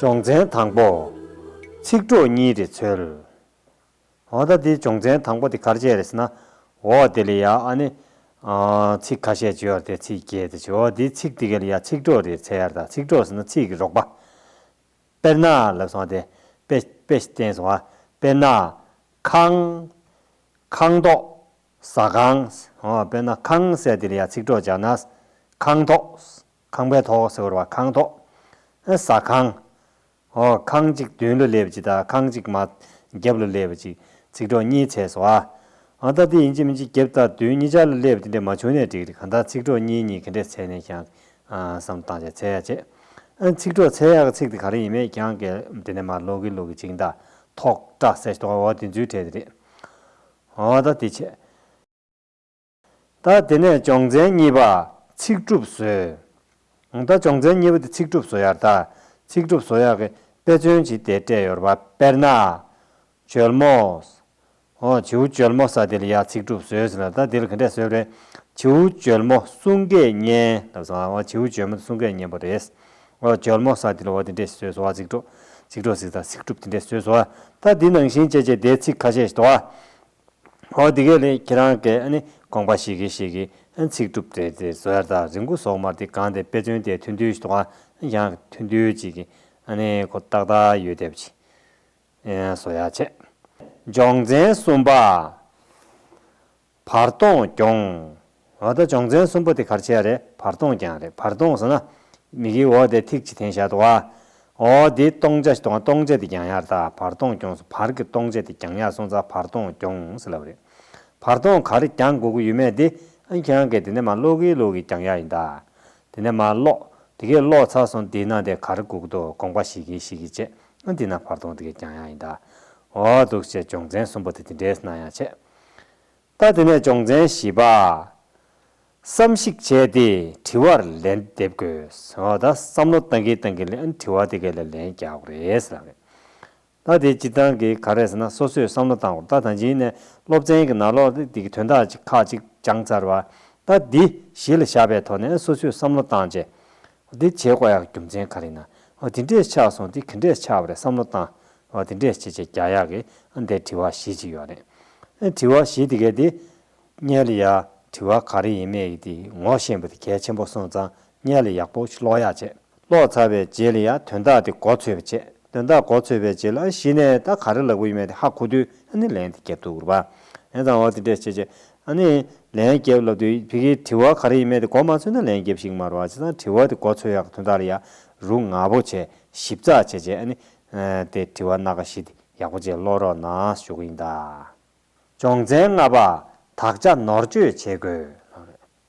སྦྱོང་ཚན་དང་པོ། ཚིག་གྲོགས་གཉིས་རེ་འཚོལ། ཨོ་ད་དེ་སྦྱོང་ཚན་དང་པོ་དེ་གར་བྱས་རེས་ན། འོ་དེ་ལས་ཡ་ཨ་ནི། ཚིག་ཁ་ཤས་བརྗོད་ཡར་དེ་ཚིག་བརྒྱད་དེ་བྱོས་འོ་དེ་ཚིག་དེ་གའི་ལ་ཡ་ཚིག་གྲོགས་རེ་འཚལ་ཡར་ད་ཚིག་གྲོགས་ཟེར་ན་ཚིག་གི་རོགས་པ། དཔེར་ན་ལབ་སོང་དེ། དཔེ། དཔེ་བསྟན་སོང་ཨ། དཔེར་ན། ཁང། ཁང་ཐོག། ཟ་ཁང། ཨོ་དཔེར་ན་ཁང་ཟས་དེ་ལ་ཡ་ཚིག་གྲོགས་སྦྱར་ན། ཁང་ཐོག། ཁང་པའི་ཐོག་ཟེར་བ་ཁང་ཐོག། ཟ་ཁང། ཨོ། ཁང་གཅིག་བདུན་ལོ་སླེབས་ཅིག་དང་ཁང་གཅིག་མ། བརྒྱབ་ལོ་སླེབས་ཅིག་ཚིག་གྲོགས་གཉིས་བྱས་སོ། ཨ་ད་འདི་ཡིན་གཅིག་མིན་གཅིག་བརྒྱབ་དང་བདུན་གཉིས་ཆར་ལོ་སླེབས་དེ་འདྲས་མ་བྱུང་ནས་འགྲིག་འགྲིག་གང་ལྟར་ཚིག་གྲོགས་གཉིས་གཉིས་གི་འདྲས་ཚད་ནས་ཀྱང། བསམ་བློ་བཏང་བྱས་ཚད་ཡག་བྱས། ཚིག་གྲོགས་ཚད་ཡག་གི་ཚིག་དེ་ག་རེ་ཡིན་མེད་ཀྱང་གལ། དེ་ནས་མ་ལོག་གི་ལུག་གི་བྱིངས་དང། ཐོག། སྐྲ་སེར་ཏོག་ཨོ་དེ་ཚུལ་དྲན་དེ་རེད། ཨོ་ད་འདི་བྱས། ད་དེ་ནས་སྦྱོང་ཚན་གཉིས་པ་ཚིག་གྲུབ་བཟོའི། ད་སྦྱོང་ཚན་གཉིས་པ་དེ་ཚིག་གྲུབ་བཟོ་ཡར་ད་ཚིག་གྲུབ་བཟོ་ཡག་གི་དཔེ་མཚོན་གྱིས་དེ་སྤྲད་ཡོར་བ་དཔེར་ན། འཇོལ་མོ། ཧོ་བྱིའུ་འཇོལ་མོ་ས་དེལ་ཡག་ཚིག་གྲུབ་བཟོས་ཟེར་ལ་ད་དེལ་ག་འདྲས་བཟོས་རེད། བྱིའུ་འཇོལ་མོ་གསུང་སྐད་སྙན་ལབ་སོང་ཨ་ཨོ་བྱིའུ་འཇོལ་མོ་དེ་གསུང་སྐད་སྙན་པོ་རེད། ཨོ་འཇོལ་མོ་ས་དེལ་ཨོ་དེ་འདྲས་ཞིག་བཟོས་སོང་ཨ་ཚིག་གྲུབ་ཚིག་གྲུབ་ཚིག་ད་ཚིག་གྲུབ་དེ་འདྲས་བཟོས་སོང་ཨ་ད་དེ་ནང་བཞིན་བྱས་བྱས་དེ་ཚིག་ཁ་ཤས་ཞིག་འདུག་ཨ། ཨོ་དེ་གས་ལེ་ཁྱེད་རང་གས་ཨ་ནི་དགོངས་པ་ཞིག་གིས་ཞིག་གིས་ཨ་ཚིག་གྲུབ་བྲེད་དེ་བཟོ་ཡར་དག་རི་མགོ་སོགས་མར་དེ་གང་དེ་དཔེ་མཚོན་དེ་ཐུན་ཐུན་ཞིག་དོགས་ཨ་ཡང་གི་ཐུན་ཐུན་ཅིག་གིས་ཨ་ནི་ཁོ་ཏག་ཏག་ཡོད་དེ་བྱས་བཟོ་ཡར་བྱས། སྦྱོང་ཚན་གསུམ་པ། བར་སྟོང་སྐྱོང། ཨོ་ད་སྦྱོང་ཚན་གསུམ་པོ་དེ་གར་བྱེད་ཡ་རེད་བར་སྟོང་ཀྱང་རེད་བར་སྟོང་ཟེར་ན། མིག་གིས་འོ་དེ་ཐིག་གཅིག་དེང་ཞག་དུ་བ། ཨོ་དེ་སྟོང་ཆ་ཞིག་དང་སྟོང་ཆ་དེ་ཀྱང་ཡར་ལྟ་བར་སྟོང་རྐྱོང་སོང་བར་གི་སྟོང་ཆ་དེ་ཀྱང་ཡར་སོང་ཙང་བར་སྟོང་རྐྱོང་ཟེར་ལབ་རེད། བར་སྟོང་ག་རེ་ཀྱང་དགོས་ཀི་ཡོད་མེད་དེ་ཨ་ཁྱེད་རང་གིས་དེ་ནས་མ་ཀློག་གིས་ཀློག་གིས་ཀྱང་ཡ་ཡིན་ད། དེ་ནས་མ་ཀློག་དེ་གས་ཀློག་ཚར་སོང་དེ་ནང་དེ་ག་རེ་དགོས་ཀི་འདུག་དགོངས་པ་ཞིག་གིས་ཞིག་གིས་བྱས་ཨ་དེ་ན་བར་སྟོང་དེ་གས་ཀྱང་ཡ་ཡིན་ད། ཨོ་འདུག་བྱས་སྦྱོང་ཚན་གསུམ་པོ་དེ་དེ་འདྲས་ན་ཡང་བྱས། ལྟ་དེ་ནས་སྦྱོང་ཚན་བཞི་པ། བསམ་གཞིག་བྱས་ཏེ་དྲི་བར་ལན་འདེབས་དགོས། ད་བསམ་བློ་གཏང་གིན་གཏང་གིན་ལན་དྲི་བ་དེ་ག་ལ་ལན་རྒྱག་དགོས་རེད་ཟེར་ལབ་ནས། ལྟ་དེ་སྤྱིར་བཏང་གི་ག་རེད་ཟེར་ན་སོ་སོས་བསམ་བློ་གཏང་དགོས་ལྟ་ད་འཇིགས་ནས་སློབ་ཚན་གྱི་ནང་ལོག་སྟེ་འདི་གི་དོན་དག་ཅིག་ཁག་ཅིག་སྦྱངས་ཚར་བ། ལྟ་འདི་གཞི་ལ་བཞག་པའི་ཐོག་ནས་སོ་སོས་བསམ་བློ་བཏང་རྗེས། འདི་བྱེད་དགོས་ཡག་རྒྱུ་མཚན་ག་རེ་ཡིན་ན། འདི་འདྲས་ཆགས་སོང་འདི་གི་འདྲས་ཆགས་པ་རེད་བསམ་བློ་བཏང། བ་དེ་འདྲས་བྱེད་ཅེས་རྒྱ་ཡག་གིས་ཨ་འདས་དྲི་བ་བཞི་ཅིག་ཡོད་རེད། ཨེ་དྲི་བ་བཞི་དེ་གས་དེ། རྙེད་ལ་ཡག་དྲི་བ་ག་རེ་ཡིན་མེད་ཀྱི་དེ་ངོ་ཤེས་པ་དེ་གལ་ཆེན་པོ་སོང་ཙང་རྙེད་ལ་ཡག་པོ་ཤློག་ཡག་བྱས་ཤློག་ཚར་བའི་རྗེས་ལ་ཡང་དོན་དག་དེ་མགོ་ཚོས་པ་བྱས་དོན་དག་མགོ་ཚོས་པའི་རྗེས་ལ་ཨ་གཞི་ནས་ད་ག་རེ་ལབ་གི་ཡོད་མེད་དེ་ཧ་གོ་དུས་ཨ་ནི་ལན་དེ་བརྒྱབ་འདུག་རེད་པ་ཨེ་ཙང་བ་དེ་འདྲས་བྱེད་ཅེས་ཨ་ནི་ལན་བརྒྱབ་ལབ་དུས་བི་གིས་དྲི་བ་ག་རེ་ཡིན་མེད་དེ་མགོ་མ་ཚོས་ན་ལན་བརྒྱབ་ཤིག་མ་རུང་བ་བྱས་ཙང་དྲི་བ་དེ་མགོ་ཚོས་ཡག་གི་དོན་དག་ལ་ཡག་རུག་ངག་པོ་བྱས་ཞིབ་ཚགས་བྱས་རྗེས་ཨ་ནི་དེ་དྲི་བ་སྣ་ཁ་ཞིག་ཡག་པོ་བཅས་ཀློག་རོགས་གནང་ཞུ་གི་ཡིན་ད། སྦྱོང་ཚན་ལྔ་པ་དག་ཆ་ནོར་བཅོས་བྱེད་དགོས།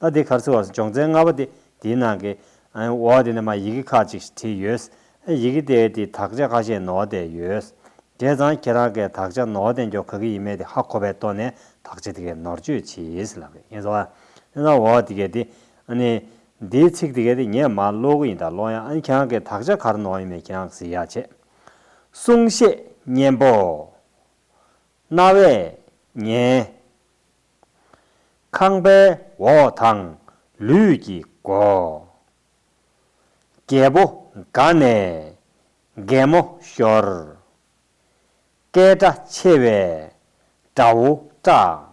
ད་དེ་གར་ཚུར་བ་སོང་སྦྱོང་ཚན་ལྔ་པ་དེ་དེའི་ནང་གི་འོག་དེ་ནས་མ་ཡི་གེ་ཁག་ཅིག་བྲིས་ཡོད། ཡི་གེ་དེའི་དེ་དག་ཆ་ཁ་ཤས་ནོར་བསྡད་ཡོད། བྱས་ཙང་ཁྱེད་རང་གས་དག་ཆ་ནོར་བསྡད་འཇོག་ག་གི་ཡིན་མེད་དེ་ཧ་གོ་བས་ལྟོ་ནས་དག་ཆ་དེ་གས་ནོར་བཅོས་བྱེད། ཡིན་ཟོ། འོག་དེ་གས་དེ། འདིའི་ཚིག་དེ་གས་དེ་ངས་མ་ཀློག་གི་ཡིན་ད་ཀློག་ཡང་ཨན་གྱང་གི་དག་ཆ་གར་ནོག་ཡིན་མེད་གྱང་གཟིགས་ཡག་བྱེད། གསུང་བཤད་སྙན་པོ། རྣ་བས་ཉན། ཁང་པའི་འོག་དང་ལུས་ཀྱི་སྒོ། རྒྱལ་པོ་དགའ་ནས་རྒན་མོ་ཤོར། སྐད་སྒྲ་ཆེ་བས་དགྲ་བོ་སྐྲག།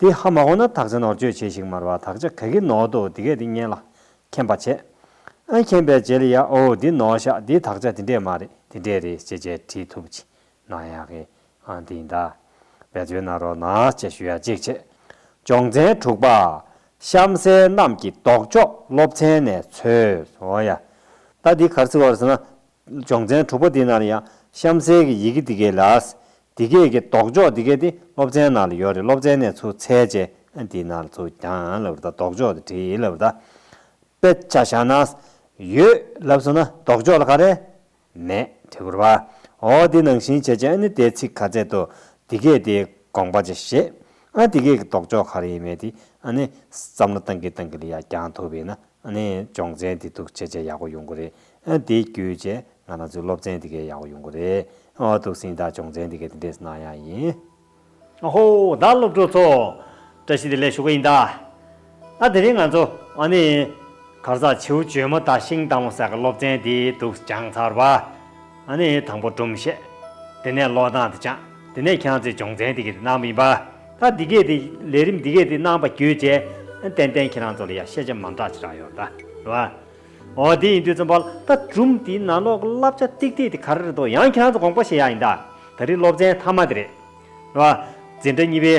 དེ་ཧ་མ་གོ་ན་དག་ཆ་ནོར་བཅོས་བྱེད་ཞིག་མར་བ་དག་ཆ་ག་གི་ནོར་འདུག་འདི་གས་འདི་མཉན་ལ་མཁྱེན་པ་བྱས། ཨ་མཁྱེན་པའི་རྗེས་ལ་ཡ་ཨོ་འདི་ནོར་ཤག་འདི་དག་ཆ་དེ་འདྲས་མ་རེད་དེ་འདྲས་རེད་ཅེས་ཅེས་དྲིས་ཐུབ་ཅི་ན་ཡག་གི་ཨ་འདི་ཡིན་ད། བེད་སྤྱོད་གནང་རོགས་གནང་ཅེས་ཞུ་ཡ་གཅིག་བྱས། སྦྱོང་ཚན་དྲུག་པ། གཤམ་གསལ་རྣམས་ཀྱི་ལྡོག་ཕྱོགས་སློབ་ཚན་ནས་འཚོལ། ཨོ་ཡ། ད་འདི་གར་བརྩི་བར་ཟེར་ན། སྦྱོང་ཚན་དྲུག་པ་འདི་ནང་ལ་ཡང་གཤམ་གསལ་གྱི་ཡི་གེ་འདི་སྐད་ལགས། འདི་སྐད་ཀྱི་ལྡོག་ཕྱོགས་འདི་སྐད་དེ་སློབ་ཚན་ནང་ལ་ཡོད་རེད་སློབ་ཚན་ནས་ཚུར་ཚད་བཅད་འདི་ནང་ལ་ཚུར་གྱང་ལབ་རེད་ད་ལྡོག་ཕྱོགས་དེ་བྲིས་ལབ་རེད་ད། དཔེ་ཆ་བཞག་ན། ཡོད། ལབ་སོང་ན་ལྡོག་ཕྱོགས་ལ་ག་རེ། མེད། དྲི་བ། འོ་འདི་ནང་བཞིན་བྱས་བྱས་ཨ་ནི་དེའི་ཚིག་ག་ཚད་དུ། འདི་སྐད་དེའི་དགོངས་པ་ཅི་ཞེས། ཨ་འདི་སྐད་ཀྱི་ལྡོག་ཕྱོགས་ག་རེ་ཡིན་མེད་དེ་ཨ་ནི། བསམ་བློ་བཏང་གིན་བཏང་གིན་ལ་ཡ་གྱང་ཐུབ་ཡིན་ན་ནས་སྦྱོང་ཚན་དེ་འདུག་ཆེ་ཆེ་ཡག་པོ་ཡོང་གི་རེད་ཨ་དེ་བརྒྱུད་ཆེ་ང་རང་ཚོའི་སློབ་ཚན་དེ་གས་ཡག་པོ་ཡོང་གི་རེད་ཨ་ཐུགས་སེང་ད་སྦྱོང་ཚན་དེ་གས་དེ་འདྲས་གནང་ཡག་ཡིན། ཨ་ཧོ་ད་སློབ་གྲོགས་ཚོ་བཀྲ་ཤིས་བདེ་ལེགས་ཞུ་གི་ཡིན་ད་ཨ་དེ་རིང་ང་ཚོ་ཨ་ནས་གར་ཟག་བྱིའུ་འཇོལ་མོ་དང་ཤིང་དང་མོ་སར་གི་སློབ་ཚན་དེ་འདུག་སྦྱང་ཚར་བ། ཨ་ནི་དང་པོ་སྒྲུབ་བཤད། དེ་ནས་ལོག་ལྟ་དང་བཅངས། དེ་ནས་ཁྱང་ཚེ་སྦྱོང་ཚན་འདི་སྐད་དུ་གནང་བ་ཡིན་པ། ད་འདི་སྐད་དུ་ལས་རིམ་འདི་སྐད་དུ་གནང་བ་བརྒྱུད་ཅེས། ཏན་ཏན་ཁྱེད་རང་ཚོ་ལ་ཡང་ཤེས་བྱ་མང་དྲག་ཅི་རང་ཡོད་ད་རེད་བ། ཨོ་དེ་ཡིན་དུས་རྩོམ་པ་ལ་ད་སྒྲུབ་འདིའི་ནང་ལོག་གི་བསླབ་བྱ་ཏིག་ཏིག་དེ་ག་རེ་རེད་དོ་ཡང་ཁྱེད་རང་ཚོ་དགོངས་པ་བཞེས་ཡག་ཡིན་ད། ད་རེའི་སློབ་ཚན་མཐའ་མ་དེ་རེད། རེད་བ། འཛིན་གྲྭ་གཉིས་པའི།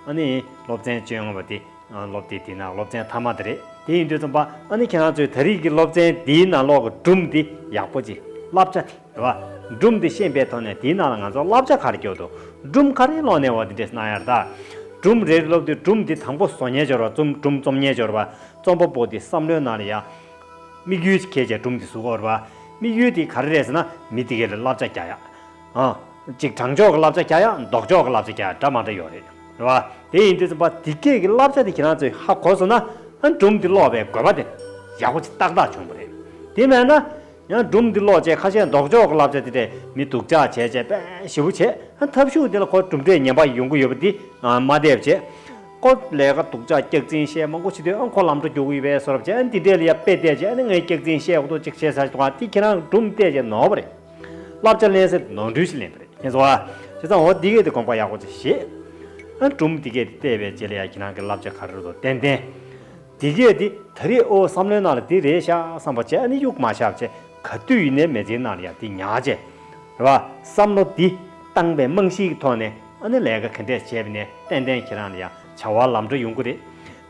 ཨ་ནི་སློབ་ཚན་བཅོ་ལྔ་བ་དེ། སློབ་དེབ་དེའི་ནང་སློབ་ཚན་མཐའ་མ་དེ་རེད། དེ་ཡིན་དུས་རྩོམ་པ་པོ་ནི་ཁྱེད་རང་ཚོས་ད་རིས་ཀྱི་སློབ་ཚན་དེའི་ནང་ཀློག་གི་སྒྲུང་དེ་ཡག་པོ་ཅིག་བསླབ་བྱ་དེ་རེད་བ། སྒྲུང་དེ་ཤེས་པའི་ཐོག་ནས་དེའི་ནང་ལ་ང་ཚོ་བསླབ་བྱ་ག་རེ་བསྐྱོད་འདུག་སྒྲུང་ག་རེ་ཀློག་ནས་བ་དེ་འདྲས་གནང་ཡར་ད། སྒྲུང་རེ་རེ་སློབ་དུས་སྒྲུང་དེ་དང་པོ་སོ་ཉལ་སྦྱོར་བ་རྩོམ་སྒྲུང་རྩོམ་ཉལ་སྦྱོར་བ། རྩོམ་པ་པོ་དེའི་བསམ་བློའི་ནང་ལ་ཡང། དམིགས་ཡུལ་གལ་ཆེ་སྒྲུང་དེ་གཟུགས་འོར་བ། དམིགས་ཡུལ་དེ་ག་རེ་རེད་ཟེར་ན་མི་དེ་གའི་ལ་བསླབ་བྱ་རྒྱག་ཡག། གཅིག་དྲང་ཕྱོགས་ཀྱི་བསླབ་བྱ་རྒྱ་ཡང་ལྡོག་ཕྱོགས་ཀྱི་བསླབ་བྱ་རྒྱ་འདྲ་མ་འདྲ་ཡོད་རེད་རེད་བ། དེ་ཡིན་དུས་བ་དེ་སྐད་ཀྱི་བསླབ་བྱ་དེ་ཁྱེད་རང་ཚོས་ཧ་གོ་སོང་ན་ཡང་སྒྲུང་འདི་ཀློག་པའི་དགོས་པ་དེ་ཡག་པོ་ཅིག་ཏག་ཏག་བྱུང་པོ་རེད། དེ་མེད་ན། ཡང་སྒྲུང་འདི་ཀློག་བྱས་ཁ་ཤས་ལྡོག་ཕྱོགས་ཀྱི་བསླབ་བྱ་དེ་འདྲས་མི་འདུག་ཅག་བྱས་བྱས་པས་ཞེ་བོ་བྱས་ཐབས་ཤུགས་དེ་ལ་གོ་གྲུབ་འབྲས་ངན་པ་ཡོང་གི་ཡོད་པ་འདི་སྨ་དེབ་བྱས་ཀོ་ལས་ཀ་འདུག་ཅག་སྐྱག་རྫིན་བཤད་མང་པོ་བྱེད་དུས་ཁོ་ལམ་འགྲོ་རྒྱུག་གི་ཡོད་པས་སོ་རབ་བྱས་འདི་འདྲས་ལ་ཡ་དཔེ་བལྟས་བྱས་ངས་སྐྱག་རྫིན་བཤད་ཀོ་ཏོ་ཅིག་བྱས་ཚར་བྱུང་བ་དེ་ཁྱེད་རང་གི་སྒྲུང་བལྟས་བྱས་ནོར་བ་རེད། བསླབ་བྱ་ལན་གསལ་ནོར་འཁྲུལ་ཞིག་ལེན་པ་རེད་ཁྱེད་ཚོ། བྱས་ཙང་འོ་འདི་གས་དེ་དགོངས་པ་ཡག་པོ་ཅིག་བཞེས། ཨ་འབྲུམ་འདི་གས་དེ་བལྟས་པའི་རྗེས་ལ་ཡང་གྱི་ནང་གི་བསླབ་བྱ་ག་རེ་རེད་དོ་ཏན་ཏན། འདི་གས་དེ་ད་རེས་ཨོ་བསམ་བློའི་ནང་ལ་དེ་རེད་ཤག་བསམ་པ་བྱས་ཨ་ནི་དབྱུག་མ་ཤག་བྱས་ག་དུས་ཡིན་ནའི་མེ་ལྕེའི་ནང་ལ་ཡང་དེ་ཉག་བྱས། རེད་བ། བསམ་བློ་འདི། སྟངས་པའི་རྨང་གཞིའི་ཐོག་ནས་ཨ་ནི་ལས་ཀ་ག་འདྲས་བྱས་པ་ནས་ཏན་ཏན་ཁྱེད་རང་ལ་ཡང་བྱ་བ་ལམ་འགྲོ་ཡོང་གི་རེད།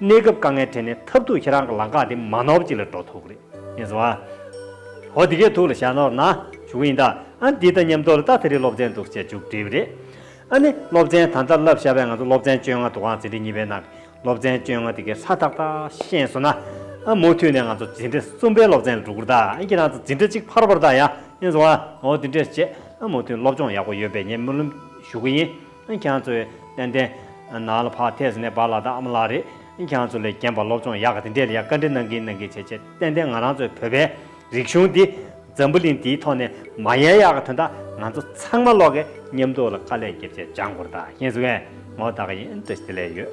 གནས་སྐབས་དཀའ་ངལ་འཕྲད་ནས་ཐབས་རྡུགས་ཁྱེད་རང་གི་ལང་ཀ་དེ་མ་ནོར་ཅིག་ལ་འགྲོ་ཐུག་གི་རེད། ངེས་བཟུང་ཨ། ཧོ་འདི་གས་ཐུག་ལ་བཞག་ནོར་ན་བྱུང་ཡིན་ད། ཨ་འདི་ད་ཉམས་དོགས་ལ་ལྟ་ད་རེས་སློབ་ཚན་འདུག་ཅེས་མཇུག་བསྒྲིལ་བ་རེད། ཨ་ནི་སློབ་ཚན་ད་ལྟ་བསླབ་ཤར་བས་ང་ཚོ་སློབ་ཚན་བཅོ་ལྔ་འདུག་ཨང་འཛིན་གྲྭ་གཉིས་པའི་ནང་གི་སློབ་ཚན་བཅོ་ལྔ་འདི་གས་ས་ཏག་ཏག་ཤེས་སོང་ན། ཨ་མུ་མཐུད་ནས་ང་ཚོ་འཛིན་གྲྭ་གསུམ་པའི་སློབ་ཚན་ལ་འགྲོ་གི་རེད་ད་ཨ་ཁྱེད་རང་ཚོ་འཛིན་གྲྭ་གཅིག་ཕར་བར་ད་ཡ། ངེས་བཟུང་ཨ་ཧོ་འདི་འདྲས་བྱས། ཨ་མུ་མཐུད་སློབ་སྦྱོང་ཡག་པོ་ཡོད་པའི་ཉེས་མི་ལུམ་ཞུ་གི་ཡིན། ཨེ་ཁྱང་ཚོའི་ཏན་ཏན། ནང་ལ་ཕག་ཐེས་ནས་བག་ལ་དྭགས་མ་ལགས་རེད། ཨེ་ཁྱང་ཚོ་ལས་རྒན་པ་སློབ་སྦྱོང་ཡག་ག་དེ་འདྲས་ལ་ཡང་བཀའ་འདྲི་གནང་གིན་གནང་གིན་བྱས་བྱས་ཏན་ཏན་ང་རང་ཚོའི་བོད་པའི་རིག་གཞུང་འདི་འཛམ་བུ་གླིང་འདིའི་ཐོག་ནས་མ་ཡལ་ཡག་ག་དོན་དག་ང་ཚོ་ཚང་མ་ཀློག་གིན་ཉམས་རྟོགས་ལ་དཀའ་ལས་བརྒྱབ་བྱས་སྦྱང་དགོར་དག་ཤེས་སུ་བས་མོ་དག་ཡིན་འདྲ་ཞིག་དེ་ལས་ཡོད།